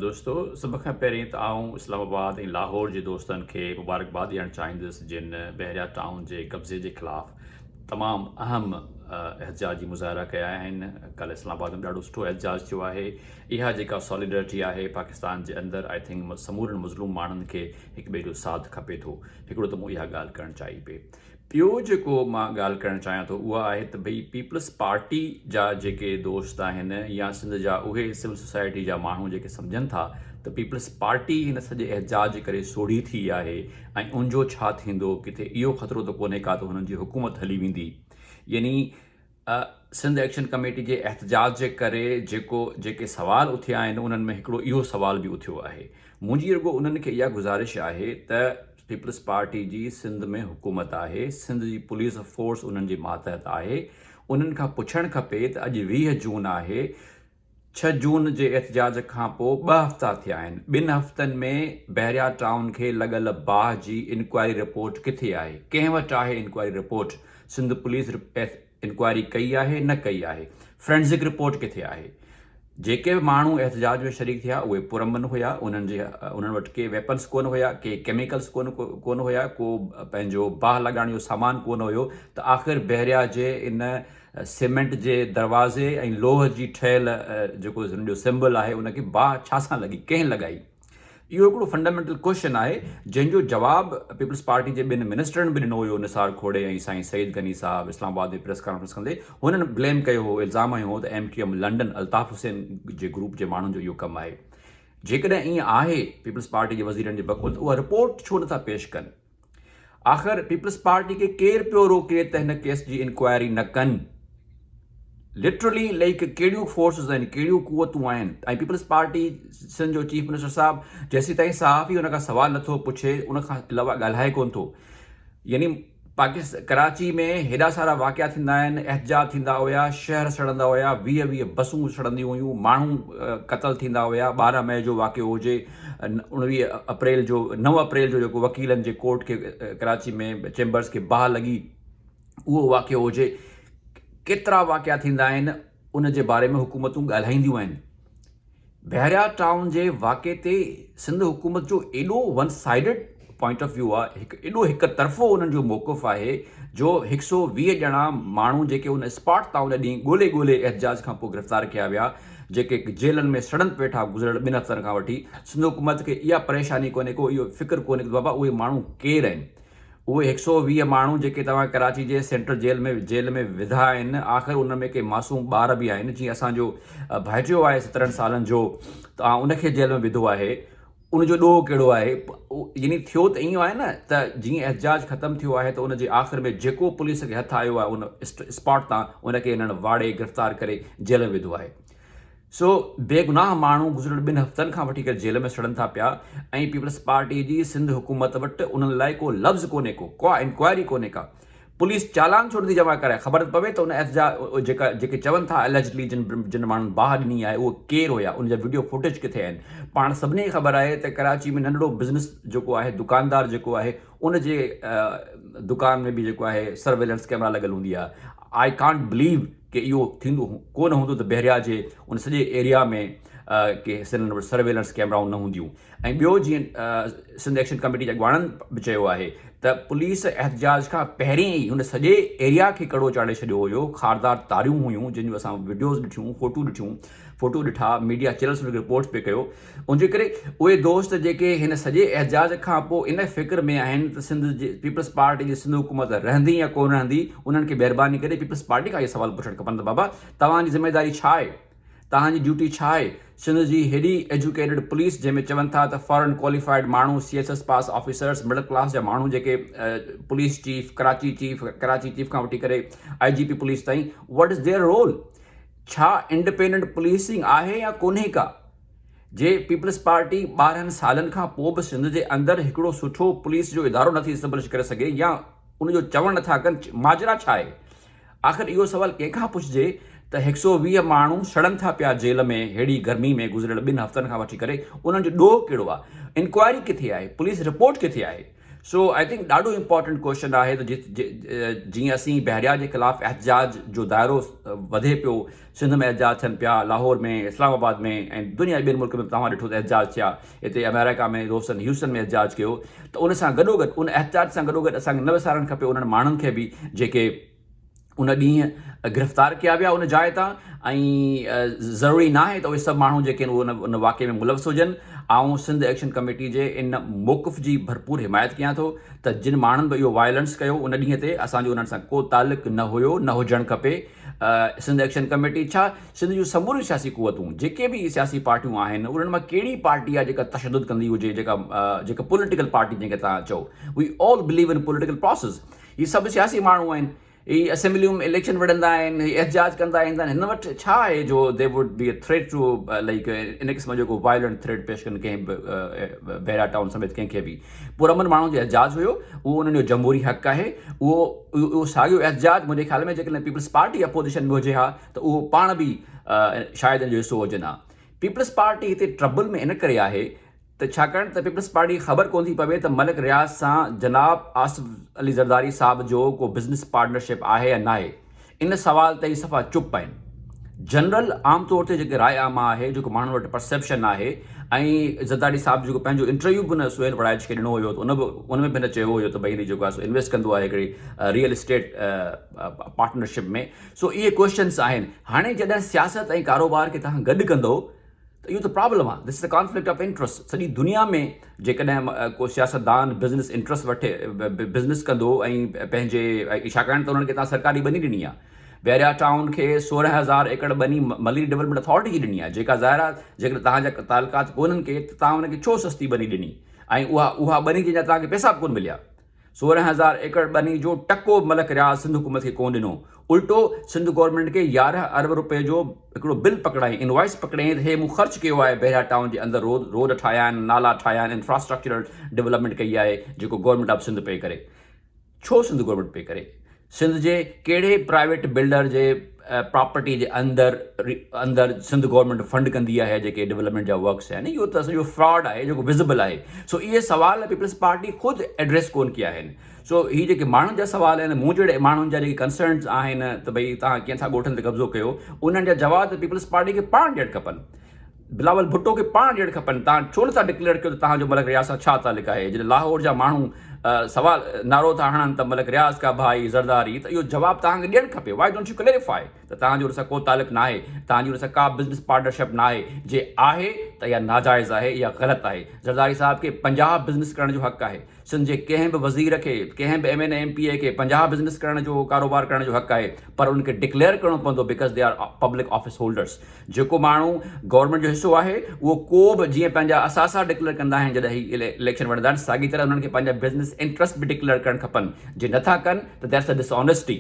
دوستو سڀ کان پهرين ته آئون اسلام آباد ۽ لاهور جي دوستن کي مبارڪباد ڏيڻ چاهيندس جن بحريا ٽائون جي قبضي جي خلاف تمام اهم احتجاجي مظاهرا ڪيا آهن ڪل اسلام آباد ۾ ڏاڍو سٺو احتجاج ٿيو آهي اها جيڪا ساليڊرٽي آهي پاڪستان جي اندر آئي ٿنڪ سمورن مظلوم ماڻهن کي هڪ ٻئي جو ساٿ کپي ٿو هڪڙو ته مون اها ڳالهه ڪرڻ چاهي پئي ٻيو جيڪو مان ڳالهه ڪرڻ چاهيان ٿو اها آهي ته ڀئي پيپلز پارٽي جا جيڪي دوست آهن يا سنڌ جا اهي سول سوسائٽي جا ماڻهو جيڪي سمجهن ٿا ته پيپلز پارٽي هن سڄي احتجاج ڪري سوڙهي ٿي آهي ۽ ان جو ڇا ٿيندو ڪٿي اهو خطرو ته ڪونهي ڪا ته هنن جي حڪومت هلي ويندي يعني سنڌ ايڪشن ڪميٽي جي احتجاج جي ڪري جيڪو جيڪي سوال اٿيا آهن انهن ۾ هڪڙو اهو سوال به اٿيو آهي منهنجي رڳو انهن کي اها گذارش آهي ته پيپلز پارٽي جي سنڌ ۾ حڪومت آهي سنڌ جي پوليس فورس انهن جي ماتحت آهي انهن کان پڇڻ کپي ته اڄ ويهه جون آهي ڇهه جون جي احتجاج کان پوء ٻه هفتا ٿيا آهن، ٻن هفتن ۾ بحريا ٽائون کي لڳل باهه جي انڪوائري رپورٽ ڪٿي آهي؟ ڪنهن وٽ آهي inquiry report? Sindh police inquiry ڪئي آهي نه ڪئي آهي؟ فرينزڪ رپورٽ ڪٿي آهي؟ جيڪي به ماڻهو احتجاج ۾ شريڪ ٿيا اهي پرامن هيا، انهن وٽ ڪي ويپنس ڪونه هيا، ڪي ڪيميڪلس ڪونه هيا، ڪو پنهنجو باهه لڳائڻ جو سامان ڪونه هيو ته آخر بحريا جي ان سيمنٽ جي دروازي ۽ لوهه جي ٺهيل جيڪو هن جو سمبل آهي ان کي باهه ڇا سان لڳي ڪنهن لڳائي اهو هڪڙو فنڊامينٽل ڪوشچن آهي جنهن جو جواب پيپلز پارٽي جي ٻن منسٽرن به ڏنو هيو نثار کهوڙي ۽ سائين سعيد غني صاحب اسلام آباد ۾ پريس ڪانفرنس ڪندي هنن بليم ڪيو هو الزام هنيو هو ته M Q M London Altaf Hussain جي گروپ جي ماڻهن جو اهو ڪم آهي جيڪڏهن ائين آهي پيپلز پارٽي جي وزيرن جي بقول ته اها رپورٽ ڇو نٿا پيش ڪن آخر پيپلز پارٽي کي ڪير پيو روڪي ته هن ڪيس جي انڪوائري نه ڪن لٽرلي ليڪ ڪهڙيون فورسز آهن ڪهڙيون قوتون آهن ۽ پيپلز پارٽي سن جو چيف منسٽر صاحب جيسي تائين صحافي ان کان سوال نٿو پڇي ان کان علاوه ڳالهائي ڪون ٿو يعني پاڪستان ڪراچي ۾ هيڏا سارا واقعا ٿيندا آهن احتجاج ٿيندا هيا شهر سڙندا هيا ويهه ويهه بسون سڙنديون هيون ماڻهو قتل ٿيندا هيا ٻارهن مئي جو واقعو هجي اوڻويهه اپريل جو نو اپريل جو جيڪو وڪيلن جي ڪورٽ کي ڪراچي ۾ چيمبرز کي باهه لڳي اهو واقعو هجي ڪيترا واقعا ٿيندا آهن ان جي باري ۾ حڪومتون ڳالهائينديون آهن بحريا ٽائون جي واقعي تي سنڌ حڪومت جو ايڏو one sided point of view آهي هڪ ايڏو هڪ طرفو انهن جو موقف آهي جو هڪ سئو ويهه ڄڻا ماڻهو جيڪي ان اسپاٽ تان ان ڏينهن ڳولي ڳولي احتجاج کان پوء گرفتار ڪيا ويا جيڪي جيلن ۾ سڙن پيٺا گذريل ٻن هفتن کان وٺي سنڌ حڪومت کي اها پريشاني ڪونهي ڪو اهو فڪر ڪونهي ته بابا اهي ماڻهو ڪير آهن اهي هڪ سئو ويهه ماڻهو جيڪي توهان ڪراچي جي سينٽرل جيل ۾ جيل ۾ وڌا آهن آخر ان ۾ ڪي معصوم ٻار به آهن جيئن اسان جو ڀائٽيو آهي سترهن سالن جو توهان ان کي جيل ۾ وڌو آهي ان جو ڏوهه ڪهڙو آهي؟ يعني ٿيو ته ائين آهي نه ته جيئن احتجاج ختم ٿيو آهي ته ان جي آخر ۾ جيڪو پوليس کي هٿ آيو آهي ان اسپاٽ تان ان کي هنن واڙي گرفتار ڪري جيل ۾ وڌو آهي. سو بيگناهه ماڻهو گذريل ٻن هفتن کان وٺي ڪري جيل ۾ سڙن ٿا پيا ۽ پيپلز پارٽي جي سنڌ حڪومت وٽ انهن لاء ڪو لفظ ڪونهي ڪو ڪا انڪوائري ڪونهي ڪا پوليس چالان ڇو نٿي جمع ڪرائي، خبر ته پوي ته ان ايس جا جيڪا جيڪي چون ٿا اليجڊلي جن جن ماڻهن باهه ڏني آهي اهي ڪير هيا ان جا وڊيو فوٽيج ڪٿي آهن پاڻ سڀني کي خبر آهي ته ڪراچي ۾ ننڍڙو بزنس جيڪو آهي دڪاندار جيڪو آهي ان جي دڪان ۾ به جيڪو آهي سرويلنس ڪيمرا لڳل هوندي آهي آئي ڪانٽ بليو ڪي اهو ٿيندو ڪو نه هوندو ته بحريا جي ان سڄي ايريا ۾ ڪي حصن ۾ سرويلنس ڪيمرائون نه هونديون ۽ ٻيو جيئن سنڌ ايڪشن ڪميٽي جي اڳواڻن به چيو آهي ته پوليس احتجاج کان پهرين ئي هن سڄي ايريا کي ڪڙو چاڙهي ڇڏيو هيو خاردار تاريون هيون جن جون اسان وڊيوز ڏٺيون فوٽو ڏٺيون فوٽو ڏٺا ميڊيا چينلس ان کي رپورٽس پي ڪيو ان جي ڪري اهي دوست جيڪي هن سڄي احتجاج کان پوء ان فڪر ۾ آهن ته سنڌ جي پيپلز پارٽي جي سنڌ حڪومت رهندي يا ڪونه رهندي انهن کي مهرباني ڪري پيپلز پارٽي کان اهي سوال پڇڻ کپن ته بابا توهان جي ذميواري ڇا آهي توهان جي ڊيوٽي ڇا آهي؟ سنڌ جي هيڏي ايجوڪيٽيڊ پوليس جنهن ۾ چون ٿا ته فارن ڪواليفائيڊ ماڻهو، C S S pass officers, middle class جا ماڻهو جيڪي police chief, Karachi chief, Karachi chief کان وٺي ڪري آء جي پي پوليس تائين وٽ از ديئر رول؟ ڇا انڊپينڊنٽ پوليسنگ آهي يا ڪونهي ڪا؟ جي پيپلز پارٽي ٻارهن سالن کان پوء به سنڌ جي اندر هڪڙو سٺو پوليس جو ادارو نٿي اسٽبلش ڪري سگهي يا ان جو چوڻ نٿا ڪن ماجرا ڇا آهي؟ آخر اهو سوال ڪنهن کان پڇجي ته هڪ سئو ويهه ماڻهو سڙن ٿا پيا جيل ۾ ههڙي گرمي ۾ گذريل ٻن هفتن کان وٺي ڪري انهن جو ڏوهه ڪهڙو آهي انڪوائري ڪٿي آهي پوليس رپورٽ ڪٿي آهي سو آئي ٿنڪ ڏاڍو امپارٽنٽ ڪوشچن آهي ته جيئن اسين بحريا جي خلاف احتجاج جو دائرو وڌي پيو سنڌ ۾ احتجاج ٿين پيا، لاهور ۾، اسلام آباد ۾ ۽ دنيا جي ٻين ملڪن ۾ به توهان ڏٺو ته احتجاج ٿيا. هتي آمريڪا ۾ دوستن هيوسٽن ۾ احتجاج ڪيو ته ان سان گڏوگڏ ان احتجاج سان گڏوگڏ اسان کي نه وسارڻ کپي انهن ماڻهن کي به جيڪي ان ڏينهن گرفتار ڪيا ويا ان جاء تان ۽ ضروري ناهي ته اهي سڀ ماڻهو جيڪي آهن اهي ان واقعي ۾ ملوث هجن. آئون سنڌ ايڪشن ڪميٽي جي ان موقف جي ڀرپور حمايت ڪيان ٿو ته جن ماڻهن به اهو وائلنس ڪيو ان ڏينهن تي اسان جو انهن سان ڪو تعلق نه هيو نه هجڻ کپي. سنڌ ايڪشن ڪميٽي ڇا سنڌ جون سموريون سياسي قوتون جيڪي به سياسي پارٽيون آهن انهن مان ڪهڙي پارٽي آهي جيڪا تشدد ڪندي هجي جيڪا جيڪا پوليٽيڪل پارٽي جنهن کي تان چئو we all believe in political process هي سڀ سياسي ماڻهو آهن هي اسيمبليون ۾ اليڪشن وڙهندا آهن هي احتجاج ڪندا ايندا آهن هن وٽ ڇا آهي جو they would be a threat to like ان قسم جو ڪو وائلنٽ ٿريٽ پيش ڪن ڪنهن به بهرا ٽائون سميت ڪنهن کي به پرامن ماڻهن جو احتجاج هيو اهو انهن جو جمهوري حق آهي اهو اهو ساڳيو احتجاج منهنجي خيال ۾ جيڪڏهن پيپلز پارٽي اپوزيشن ۾ هجي ها ته اهو پاڻ به شايد ان جو حصو هجن ها پيپلز پارٽي هتي ٽربل ۾ ان ڪري آهي ته ڇاڪاڻ ته پيپلز پارٽي کي خبر ڪونه ٿي پوي ته ملڪ رياض سان جناب آصف علي زرداري صاحب جو ڪو بزنس پارٽنرشپ آهي يا ناهي ان سوال تائين صفا چپ آهن. جنرل عام طور تي جيڪي راء عامه آهي، جيڪو ماڻهن وٽ پرسيپشن آهي ۽ زرداري صاحب جيڪو پنهنجو انٽرويو به هن سهيل وڙائچ کي ڏنو هيو ته ان به ان ۾ به هن چيو هيو ته ڀئي هن جيڪو آهي سو انويسٽ ڪندو آهي هڪڙي ريئل اسٽيٽ پارٽنرشپ ۾ سو اهي ڪوئسچنس آهن هاڻي جڏهن سياست ۽ ڪاروبار کي توهان گڏ ڪندو ته اهو ته پرابلم آهي This is a conflict of interest سڄي دنيا ۾ جيڪڏهن ڪو سياستدان بزنس انٽرسٽ وٺي بزنس ڪندو ۽ پنهنجي ڇاڪاڻ ته انهن کي تهان سرڪاري ٻني ڏني آهي ويريا ٽائون کي سورهن هزار ايڪڙ ٻني ملري ڊولپمينٽ اٿارٽي جي ڏني آهي جيڪا ظاهر آهي جيڪڏهن تهان جا تعلقات ڪونهن ڪي ته تهان ان کي ڇو سستي ٻني ڏني ۽ اها اها ٻني جنهن جا تهان کي پيسا به ڪونه مليا سورهن هزار ايڪڙ ٻني جو ٽڪو به ملڪ رياض سنڌ حڪومت کي ڪونه ڏنو، الٽو سنڌ گورنمينٽ کي يارهن ارب رپئي جو هڪڙو بل پڪڙائين، انوائيس پڪڙيائين ته هي مون خرچ ڪيو آهي، بحريا ٽائون جي اندر روڊ روڊ ٺاهيا آهن، نالا ٺاهيا آهن، انفراسٽرڪچرل ڊولپمينٽ ڪئي آهي، جيڪو گورنمينٽ آف سنڌ پئي ڪري. ڇو سنڌ گورنمينٽ پئي ڪري؟ سنڌ جي ڪهڙي به پرائيويٽ بلڊر جي پراپرٽي جي اندر اندر سنڌ گورنمينٽ فنڊ ڪندي آهي جيڪي ڊولپمينٽ جا ورڪس آهن اهو ته سڄو فراڊ آهي جيڪو وزبل آهي سو اهي سوال پيپلز پارٽي خود ايڊريس ڪون ڪيا آهن سو هي جيڪي ماڻهن جا سوال آهن مون جهڙي ماڻهن جا جيڪي ڪنسرنز آهن ته ڀئي تان ڪيئن ٿا ڳوٺن تي قبضو ڪيو انهن جا جواب ته پيپلز پارٽي کي پاڻ ڏيڻ کپن بلاول ڀٽو کي پاڻ ڏيڻ کپن تان ڇو نٿا ڊڪليئر ڪيو ته تهان جو ملڪ رياض سان ڇا تعلق آهي جڏهن لاهور جا ماڻهو سوال نعرو ٿا هڻن ته ملڪ رياض ڪا ڀائي زرداري ته اهو جواب تهان کي ڏيڻ کپي واء ڊونٽ يو ڪليريفائي ته تهان جو ان سان ڪو تعلق ناهي تهان جي ان سان ڪا بزنس پارٽنرشپ ناهي جي آهي ته اها ناجائز آهي اها غلط آهي زرداري صاحب کي پنجاهه بزنس ڪرڻ جو حق آهي سنڌ جي ڪنهن به وزير کي، ڪنهن به M N A M P A کي پنجاهه بزنس ڪرڻ جو ڪاروبار ڪرڻ جو حق آهي پر انهن کي ڊڪليئر ڪرڻو پوندو because they are public office holders جيڪو ماڻهو گورنمينٽ جو حصو آهي اهو ڪو به جيئن پنهنجا اثاثا ڊڪليئر ڪندا آهن جڏهن هي اليڪشن وڙهندا آهن ساڳي طرح انهن کي پنهنجا بزنس انٽرسٽ به ڊڪليئر ڪرڻ کپن جي نٿا ڪن ته that's a dishonesty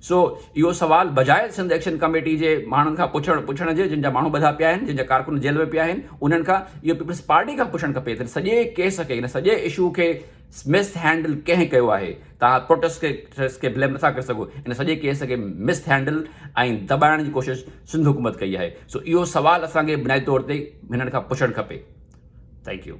so اهو سوال بجاء سنڌ ايڪشن ڪميٽي جي ماڻهن کان پڇڻ پڇڻ جي جن جا ماڻهو ٻڌا پيا آهن جن جا ڪارڪن جيل ۾ پيا آهن انهن کان اهو پيپلز پارٽي کان پڇڻ کپي ته سڄي ڪيس کي هن سڄي اشو کي مس هينڊل ڪنهن ڪيو آهي تان پروٽيسٽرس کي بليم نٿا ڪري سگهو ان سڄي ڪيس کي مس هينڊل ۽ دٻائڻ جي ڪوشش سنڌ حڪومت ڪئي آهي سو اهو سوال اسان کي بنيادي طور تي هنن کان پڇڻ کپي ٿينڪ يو